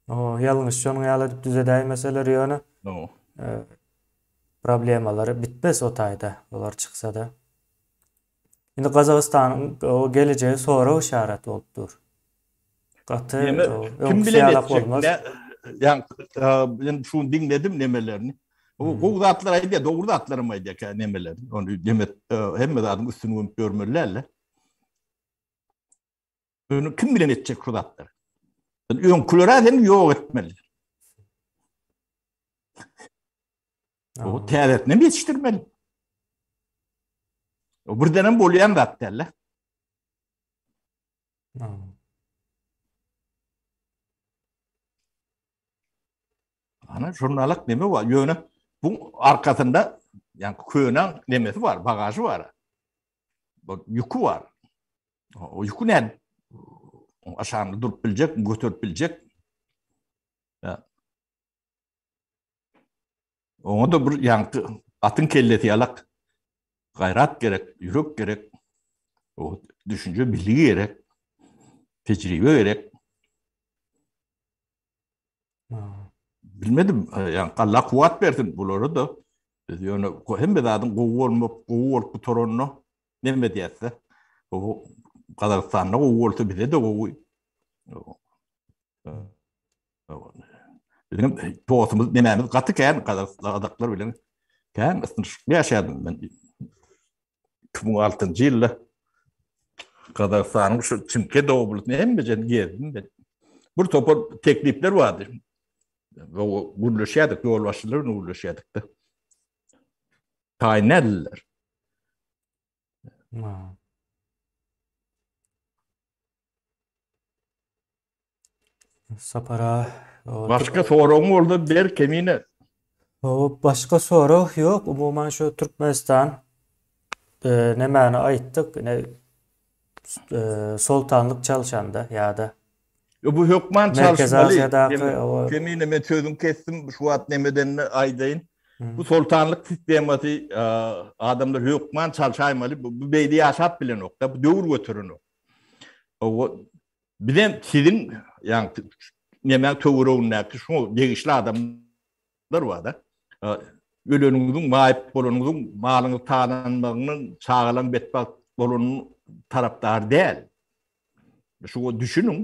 Hawa, ýalňyş şonuň ýaly edip düzedäýin meseleri ýöne. Hawa. Problemalary bitmez o taýda, olar çyksa-da. Indi Gazagystanyň o gelejegi sorag işaret bolup dur. Gaty kim bilen etjek? Ýa men şuny diňledim nemelerini. Bu gowy zatlar aýdýar, dogry zatlar hem aýdýar kä nemeler. Ony demek hemme zadyň üstüni gömüp görmeli däldi. Öňü kim bilen etjek şu zatlar? Biz öňkülere hem ýok etmeli. O täzetini hem yetiştirmeli. O birden hem bolýan zat däl. Ana jurnalyk neme bar? Ýöne bu arkasynda yani könen nemesi var, bagajı var. Bu yükü var. O ýüki nädip aşagyny durup biljek, göterip biljek? Oňa da bir ýaňky atyň kellesi ýalak gaýrat gerek, ýürek gerek, o düşünje bilgi gerek, tejribe gerek. Bilmedim, yani Allah kuwat bersin bulara da. Biz ýöne hemme zadyň gowy bolmak, gowy bolup gutaranyna neme diýäsde. Bu Gazagystanda gowy bolsa bize de gowy. Bizim dostumuz nemämiz gaty kän Gazagystanda bilen. Kän ysnyşykly ýaşaýaryn men. iki müň altynjy ýylda Gazagystanyň şu Çimkent oblastyny hemmejen gezdim ben. Bir topar teklipler bardy. Gürleşýärdik, ýolbaşçylar bilen gürleşýärdik-de. Taýyn nädildiler. Sapara. Başga soragyň bolsa ber kemine. Hop başga sorag ýok. Umuman şu Türkmenistan e, nemäni aýtdyk? Ine e, soltanlyk çalşanda ýa-da Yo, bu hökman Merkezi çalşmaly. Aziýadaky Kemine- o- Kemine men sözüňi kesdim. Şu wagt nemedenini aýdaýyn. Hmm. Bu soltanlyk sistemasy e, adamlar hökman çalşaýmaly. Bu, bu beýle ýaşap bilenok da. Bu döwür göterenok. O, Bizem siziň ýaňy nemäň töweregindäki şuňa degişli adamlar bar-da. Öleniňiziň, maýyp bolanyňyzyň, malyňyz talanmagynyň, çagalaň betbagt bolanynyň tarapdary däl. Şuňa düşüniň.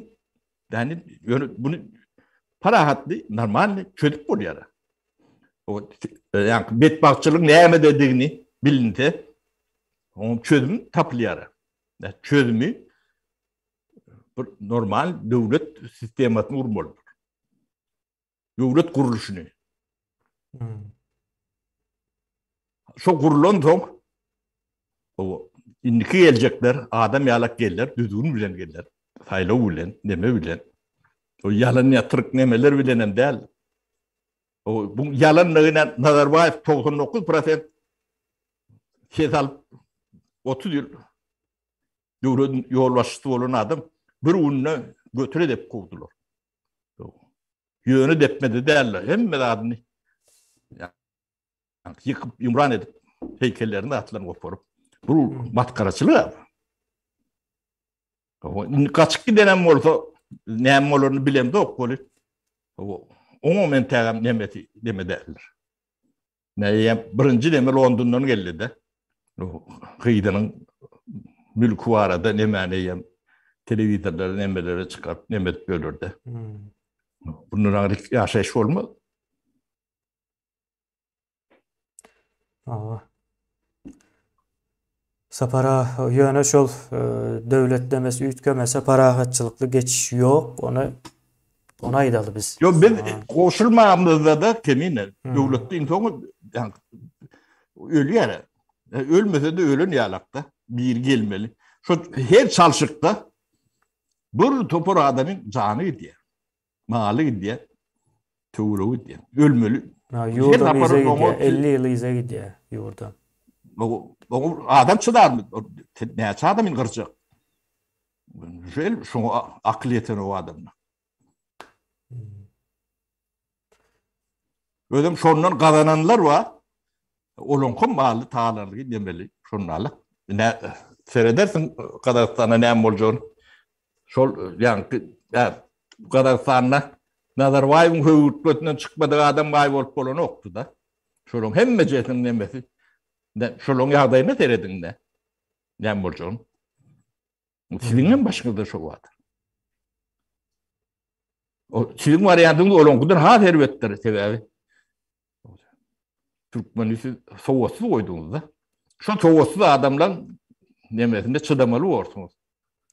Ýani ýöne muny parahatly, normalny çözüp bolýar. O ýaňky betbagtçylygyň nämededigini bilinse, onuň çözümi tapylýar. Çözümi bir normal döwlet sistemasyny gurmalydyr. Döwlet gurluşyny. Hmm. Şo gurlan soň o indiki geljekler adam ýalak geller, düzgün bilen geller. Saýlaw bilen, neme bilen. O ýalan ýatyryk nemeler bilen hem däl. O bu ýalanlygyna Nazarbaýew 99% ses alyp 30 ýyl döwlet ýolbaşçysy bolan adam bir günde götüre dep kowdular. Ýöne depmedi däller, hemme zadyny ýykyp, ýumran edip, heýkellerini atlan goparyp, bu hmm. matkaraçylyk. Indi gaçyp gidenem bolsa, näme bolaryny bilemzok bolup. Oňa men tägem nemeti deme däller. Meýem birinji neme Londondan geldi-de. Gyzynyň mülki barada nemäni ýem telewizorlary nemeleri çykaryp nemet bölürdi. Hmm. Bundan aňryk ýaşaýyş bolmaz. Aa. Sapara ýöne şol döwletlemesi üýtgemese parahatçylykly geçiş ýok, ony ony aýdaly biz. Ýok, biz goşulmamyzda-da kemine döwletde iň soňy ölýär. Ölmese-de ölen ýalakda biri gelmeli. Şo her çalşykda bir topar adamyň jany gidýär. Maly gidýär, töwregi gidýär. Ölmeli. Ýurda yza gidýär, elli ýyl yza gidýär ýurda. Oňa adam çydarmy? Näçe adam indi gyrjak? Şeýle mi? Şoňa akyl ýeten o adamda. Özüm şondan gazananlar bar. Olaňkym maly talanlygy demeli, şondalyk. Ine, seredersiň Gazagystanda näme boljagyny. Şol ýaňky Gazagystanda Nazarbaýewiň höwürtgesinden çykmadyk adam baý bolup bolanokdy-da. Şolaryň hemmejesiniň nemesi şolaryň ýagdaýyna serediň-de. Näme boljagyny. Siziň hem başyňyzda şo bar. O siziň wariantyňyz olaňkydan has erbetdir sebäbi. Türkmeni siz sowatsyz goýduňyz-da. Şo sowatsyz adamlaň nemesine çydamaly borsuňyz.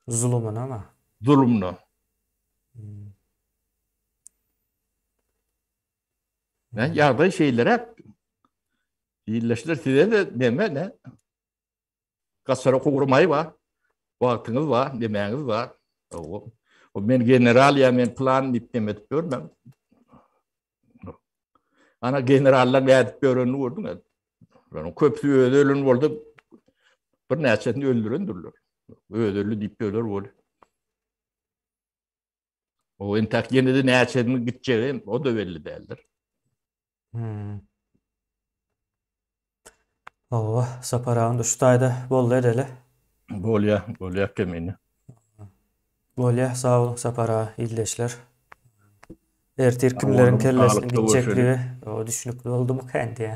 Zulumyna-ma? Zulumyna. Ýagdaý şeýleräk. Ildeşler size-de neme-ne? Gassara gowry maý bar. Wagtyňyz bar, nemäňiz bar. Ow. O men general ýa men plan diýip dem edip ýörmän. Ana generallar nädip ýörenini gördüň ä. Ýöne köpüsi özi ölen boldy. Bir näçesini öldürendirler. Özi öldi diýip ýörler bol. O entak ýene-de näçesini gitjegi o da belli däldir. Hmm. Hawa, Sapar agam da şu taýda boldy edeli. Bolýa, bolýa kemini. Bolýa, sag boluň Sapar aga, ildeşler. Ertir kimleriň kellesini gitjekligi o düşünikli boldumy kän diýä.